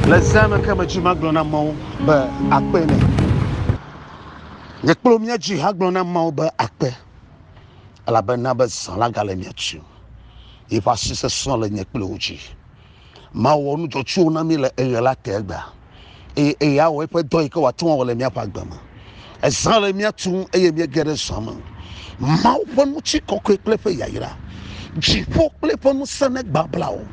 Le zã me ke medzi magblɔ na Mawu be akpe nɛ. Nye kple mía dzi hagblɔ na Mawu be akpe, elabena be zã la gale mía dzi. Yeƒe asi sesẽ le nye kple wò dzi. Mawu wɔ nu dzɔtsuwo na mí le eɣe la te egbea. eye eye awɔ eƒe dɔ yi ke wòate ŋu awɔ le míaƒe agbe me. Ezã le mía tum eye míege ɖe zã me. Mawu ƒe ŋutikɔkɔe kple eƒe yayra, dziƒo kple eƒe ŋusẽ negbabla o.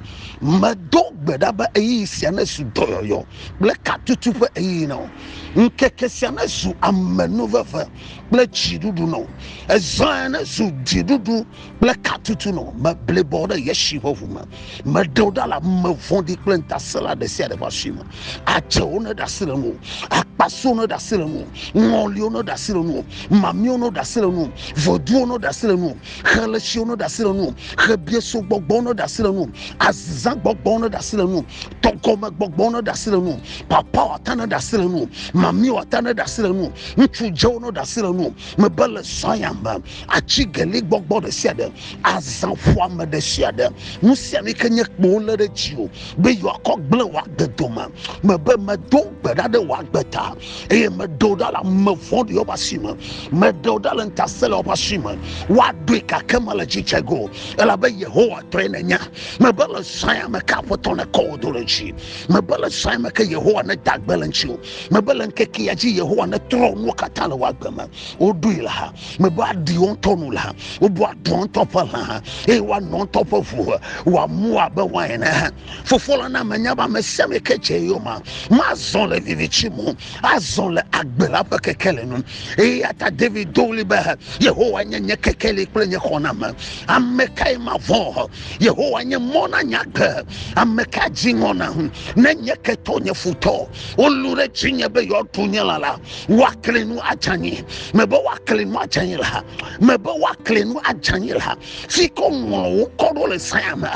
Medo gbe ɖa be ɣeyiɣi sia nezu dɔyɔyɔ kple katutu ƒe ɣeyiɣi na wò. Ŋkeke sia nezu amenuveve kple dziɖuɖu na wò. Ezãe nezu dziɖuɖu kple katutu nɔ meblibɔ ɖe yesi ƒe ʋu me meɖe wo ɖa le ame vɔ̃ɖi kple ŋutasẽla ɖe sia ɖe ƒe asi me adzewo ne ɖe asi le nu akpasiwo ne ɖe asi le nu ŋɔliwo ne ɖe asi le nu mamiwo ne ɖe asi le nu voduwo ne ɖe asi le nu xeletsiwo ne ɖe asi le nu xebieso gbɔgbɔwo ne ɖe asi le nu azizã gbɔgbɔwo ne ɖe asi le nu tɔgɔme gbɔgbɔwo ne ɖe asi le nu papawo ata ne ɖe asi le nu mamiwo ata ne ɖe asi le nu ŋutsu dzewo ne ɖe asi le nu mebe le zɔya me atsigeli gbɔgbɔ ɖe sia ɖe, azãƒoame ɖe sia ɖe, nu sia nu yi ke nye kpowo lé ɖe dziwò be yewoakɔ gblẽ wò agbe dome. Mebe medo gbe ɖa ɖe wò agbe ta, eye meɖe wò ɖa le ame vɔ̃ɖiwo ƒe asi me. Meɖe wò ɖa le ŋutasẽlawo ƒe asi me. Woaɖoe gake mele dzidzɔ ge o, elabe Yehowa tɔe nènya. Mebe le zã ya me ke Aƒetɔ nekɔ wò do ɖe dzi. Mebe le zã ya me ke Yehowa neda gbe le ŋutiwò. Mebe le ŋkeke ya dzi Yehowa netrɔ nuwo katã le wò agbe me. woɖoe le ha mebe aɖi wo ŋutɔ nu le ha wobu aɖu wo ŋutɔ ƒe lã ha eye woanɔ wo ŋutɔ ƒe ʋu he wòamu abe wain ene ha fofo la na menya be ame sia ame ke dze eyoma mazɔ le vivitsi mo azɔ le agbe la ƒe kekeli nu eye ata david do ɣli be yehowa nye nye kekeli kple nye xɔname ame kae mavɔ he yehowa nye mɔ na nye agbe ame ka dzi ŋɔ na ŋu ne nye ketɔ nye futɔ wolũ ɖe dzinye be yewoaɖu nye lã la woakli nu adze anyi mebe woakli nu adze anyi la mebe woakli nu adze anyi la si ke ŋlɔ wo kɔ ɖo le saya me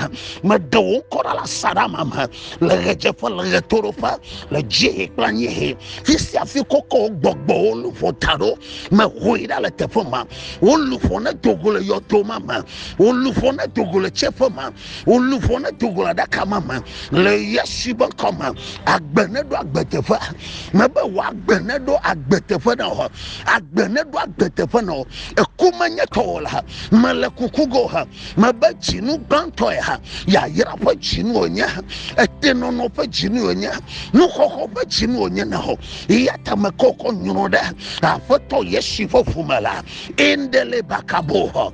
meɖe wo ŋkɔ ɖa le asaɖa ma me le ɣedzeƒe le ɣetoɖoƒe le dziehe kple anyiehe fi sia fi kɔkɔ wo gbɔgbɔ wo luƒo ta ɖo mehoe ɖa le teƒe ma wo luƒo ne dogo le yɔdo ma me wo luƒo ne dogo le tseƒe ma wolu ƒo ne togo aɖaka ma me le yesu be ŋkɔ me agbe ne ɖo agbe teƒe me be wɔ agbe ne ɖo agbe teƒe na wɔ agbe ne ɖo agbe teƒe na wɔ eku menye tɔwɔ la mele kuku go ha mebe dzinu gbãtɔe ha yayra ƒe dzinu wònye etenɔnɔ ƒe dzinu wònye nuxɔxɔ ƒe dzinu wònye na wɔ eya ta mekɔkɔ nyrɔ ɖe aƒetɔ yesu ƒe ƒome la endele bakabo hɔ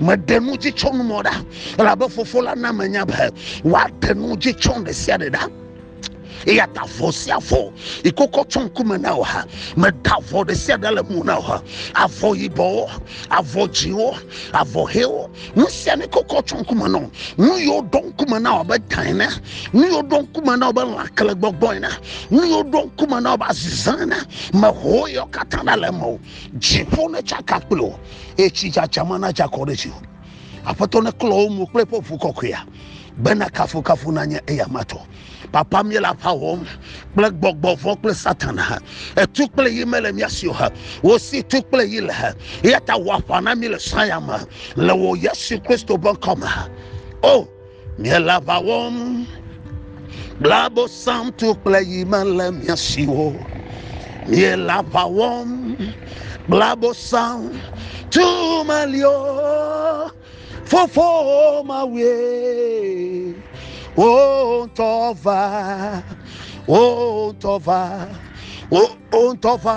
Meɖe nu dzi tsɔ numɔ ɖa, elabe Fofo la na menya be woaɖe nu dzi tsɔ ɖe sia ɖe ɖa. Eya ta vɔ sia vɔ yi kokɔ tsɔ ŋkume na wò ha. Meda avɔ ɖe sia ɖe le mo na wò ha. Avɔ yibɔwo, avɔ dzĩwo, avɔ ʋewo, nu sia ne kokɔ tsɔ ŋkume na wò. Nu yiwo ɖo ŋkume na wò abe ta ene, nu yiwo ɖo ŋkume na wò abe lãkle gbɔgbɔ ene, nu yiwo ɖo ŋkume na wò abe azizã ene, meho yewo katã ɖa le eme o. Dziƒo netsaka kple wò. eye tsi dzadza ma nadze akɔ ɖe dziwò. Aƒetɔ neklɔ wo mo kple eƒe ʋu kɔkɔea, bena kafukafu nanye eya matɔ. Papa míele aƒa wɔm kple gbɔgbɔ vɔ kple satan ha. Etu kple yi mele mía si o ha. Wo si tu kple yi le ha. Eya ta wɔ aƒa na mí le saya me le wò Yesu Kristo ƒe ŋkɔ me. O Miele aʋa wɔm kple abosamtu kple yi mele mia si o. Miele aʋa wɔm kple abosam tu meli o. Fofo mawue wo ŋutɔ va wo ŋutɔ va wo ŋutɔ va.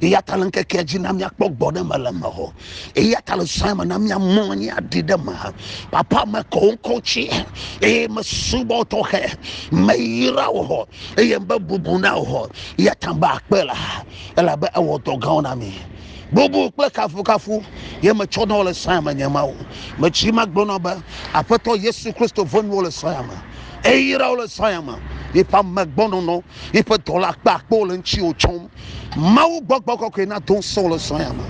eya ta le ŋkekea dzi na míakpɔ gbɔ ɖe me le me hɔ eya ta le sɔe me na míamɔ anyi aɖi ɖe me papa mekɔ wo ŋkɔ tsi eye mesubɔ tɔxɛ meyra wo hɔ eye be bubu na wo hɔ eya ta be akpe la elabe ewɔ dɔ gãwo na mi bubu kple kafukafu ye metsɔ na wo le sɔe me nye mawo metsi ma gblɔ na be aƒetɔ yesu kristo vɔnyiwo le sɔe me eyra wo le sɔe me eƒe amegbɔnɔnɔ Yiƒe dɔla kpe akpe wo le ŋutiwò tsɔm. Mawu gbɔgbɔ kɔkɔe na to ŋusẽ wo le srɔ̃ ya me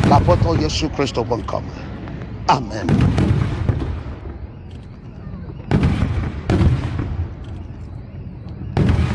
le Aƒetɔ Yesu Kristo ƒe ŋkɔ me. Amen.